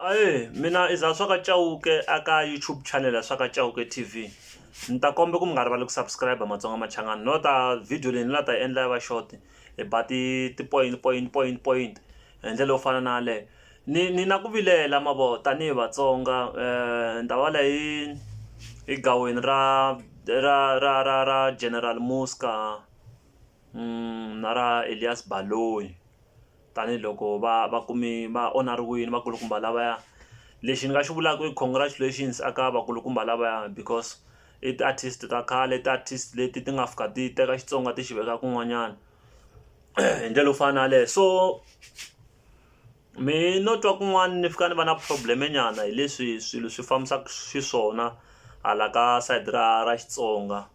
Ahee mina i Zahaswa ka Chauke a ka YouTube channel ya Swa ka Chauke T_V ni ta komba ku mi nga rivali ku subscribe matsonga machangani no ta video leyi ni la ta yi endla yi va short hi ba ti ti point point point point hi ndlela yo fana na yaleyo ni ni na ku vilela ma vo tanihi Vatsonga ndhava leyi yi yi gaweni ra ra ra ra ra General Muzka na ra Elias Baloyi. tanihiloko va va kume va onariwile vakulukumba lavaya lexi ni nga xi vulaka i congratulations a ka vakulukumba lavaya because i ti-artist ta khale i ti-artist leti ti nga fika ti teka Xitsonga ti xi veka kun'wanyana hi ndlela yo fana na yaleyo so me no twa kun'wana ni fika ni va na problem nyana hi leswi swilo swi fambisaka xiswona hala ka side ra ra Xitsonga.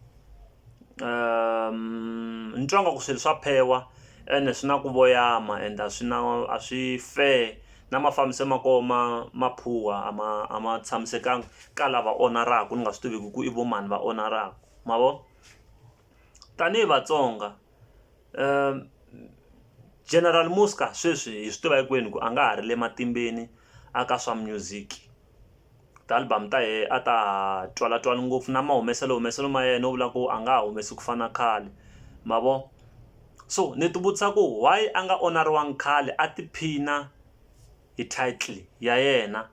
ni twa nga ku swilo swa phewa ene swi na ku voyama and a swi na a swi fair na mafambiselo ma koho ma ma poor a ma a ma tshamisekanga ka lava onaraka ni nga swi tiviki ku i vo mani va onaraka ma vo tanihi Vatsonga General Muzka sweswi hi swi tiva hinkwenu ku a nga ha ri le matimbeni a ka swa music. ti-album ta yehe a ta ha twalatswani ngopfu na mahumeselo humeselo ma yena u vula ku a nga ha humesi ku fana na khale ma vo so ni ti vutisa ku why a nga onariwanga khale a tiphina hi title ya yena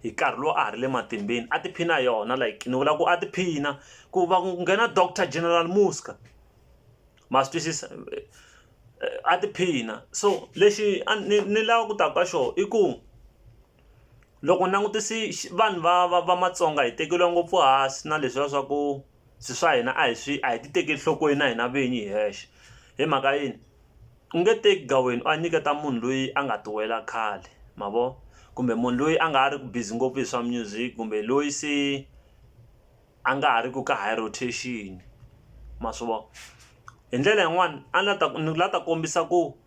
hi nkarhi lowu a ha ri le matimbeni a tiphina hi yona like ni vula ku a tiphina ku va ku nghena doctor general Muzka ma swi twisisa a tiphina so lexi a ni ni lava ku ta ka xona i ku. Loko langutisi vanhu va va va matsonga hi tekeriwa ngopfu hansi na leswiya swa ku swi swa hina a hi swi a hi ti tekeli enhlokweni na hina vinyi hi hexe hi mhaka yini u nge teki gaweni u ya nyiketa munhu loyi a nga ti wela khale ma vo kumbe munhu loyi a nga ha ri ku busy ngopfu hi swa music kumbe loyi se a nga ha ri ku ka high rotation ma swi vona hi ndlela yin'wani a ni la ta ni la ta kombisa ku.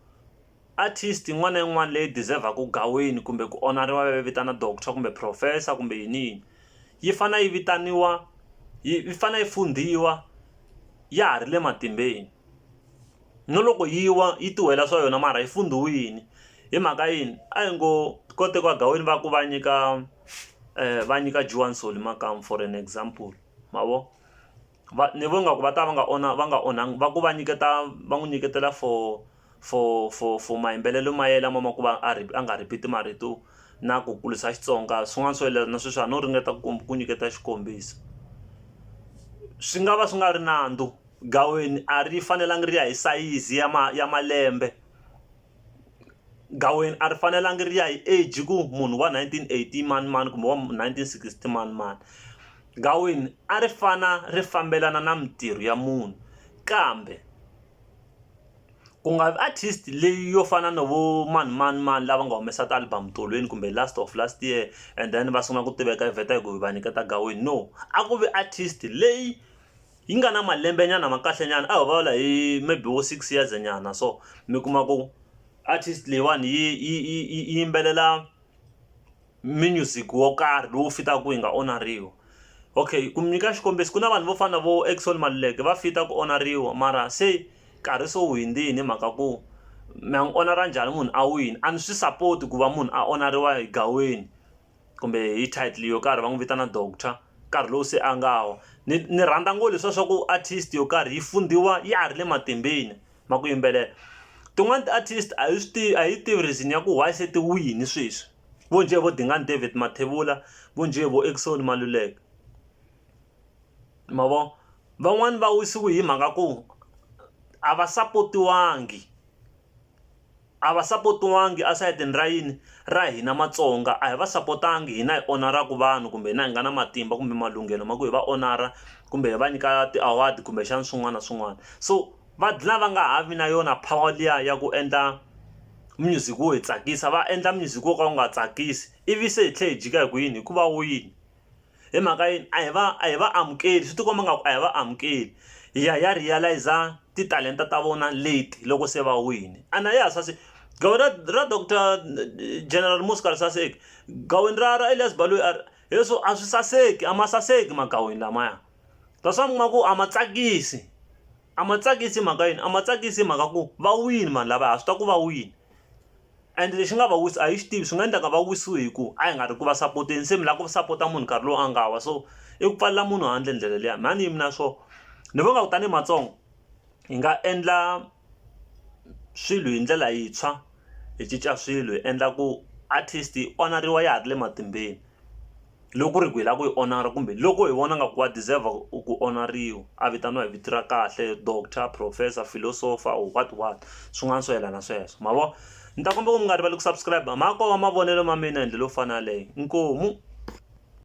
Artist yin'wana na yin'wana leyi deserve-aka ku gaweni kumbe ku onariwa va yi vitana doctor kumbe professor kumbe yini yini yi fane yi vitaniwa yi fane yi fundhiwa ya ha ri le matimbeni no loko yi wa yi ti wela swa yona mara yi fundhiwini hi mhaka yini a hi ngo ko tekiwa gaweni va ku va nyika va nyika Juwani Soli makamu for an example ma vo. va ni vona nga ku va ta va nga onha va nga onha va ku va nyiketa va n'wi nyiketela for for for for mayimbelelo ma yena lama ma ku va a ri a nga repeat marito na ku kurisa Xitsonga swin'wana swo yelana na sweswo a no ringeta ku ku nyiketa xikombiso swi nga va swi nga ri nandzu gaweni a ri fanelanga ri ya hi sayizi ya ma ya malembe. gaweni a ri fanelanga ri ya hi age ku munhu wa nineteen eighty manimani kumbe wa nineteen sixty manimani gaweni a ri fana ri fambelana na mintirho ya munhu kambe ku nga vi artist leyi yo fana na vo mani mani mani lava nga humesa ti album tolweni kumbe last of last year and then va sungula ku tiveka vheta hi ku va nyiketa gaweni no a ku vi artist leyi. yi nga na malembe nyana ma kahle nyana a ho vulavula hi maybe vo six years nyana so mi kuma ku artist leyiwani yi yi yi yi yi yimbelela music wo karhi lowu fitaka yi nga onariwi okay ku mi nyika xikombiso ku na vanhu vo fana na vo Eckson Maluleke va fit-a ku onariwa mara se nkarhi se wu hundzini hi mhaka ku mi ya n'wi onara njhani munhu a wina a ni swi support ku va munhu a onariwa egaweni. kumbe hi title yo karhi va n'wi vitana doctor nkarhi lowu se a nga wa ni ni rhandza ngo leswiya swa ku artist yo karhi yi fundziwa ya ha ri le matimbeni ma ku yimbelela tin'wani ti-artist a hi swi tivi a hi yi tivi reason ya ku why se ti wile sweswi vo njhe vo Dingani David Mathebula vo njhe vo Eckson Maluleke ma vo van'wani va wisiwe hi mhaka ku a va sapotiwangi. a va sapotiwangi a sayitini ra yini ra hina Matsonga a hi va sapotangi hina hi onaraka vanhu kumbe hina hi nga na matimba kumbe malunghelo ma ku hi va onara kumbe hi va nyika ti-award kumbexana swin'wana na swin'wana so va dlina va nga ha vi na yona power liya ya ku endla music wo hi tsakisa va endla music wo ka wu nga tsakisi ivi se hi tlhela hi jika hi ku yini hikuva wini hi mhaka yini a hi va a hi va amukeli swi tikomba nga ku a hi va amukeli hi ya hi ya realize titalenta ta vona leti loko se va wini ana ya sase gawe ra ra doctor general muska ri saseki gaweni ra ra elias baloyi a hi swo a swi saseki a ma saseki magaweni lamaya that's why mi kuma ku a ma tsakisi. A ma tsakisi hi mhaka yini a ma tsakisi hi mhaka ku va wini vanhu lavaya ha swi tiva ku va wini and lexi nga va wisa a hi swi tivi swi nga endleka va wisiwe hi ku a hi nga ri ku va sapoteni se mi lava ku sapota munhu nkarhi lowu a nga wa so i ku pfalela munhu handle ndlela liya mhani yimi na swo ni vona nga ku tanihi matsonga hi nga endla swilo hi ndlela yintshwa hi cinca swilo hi endla ku artist yi onariwa ya ha ri le matimbeni. loko ku ri ku hi lava ku yi honora kumbe loko hi vona nga ku wa deserve ku onariwa a vitaniwa hi vito ra kahle doctor, professor, philosopher or what what swin'wana swo yelana sweswo ma vo ni ta kombela ku mi nga rivali ku subscribe ma koho mavonelo ma mina hi ndlela yo fana na yaleyo inkomu.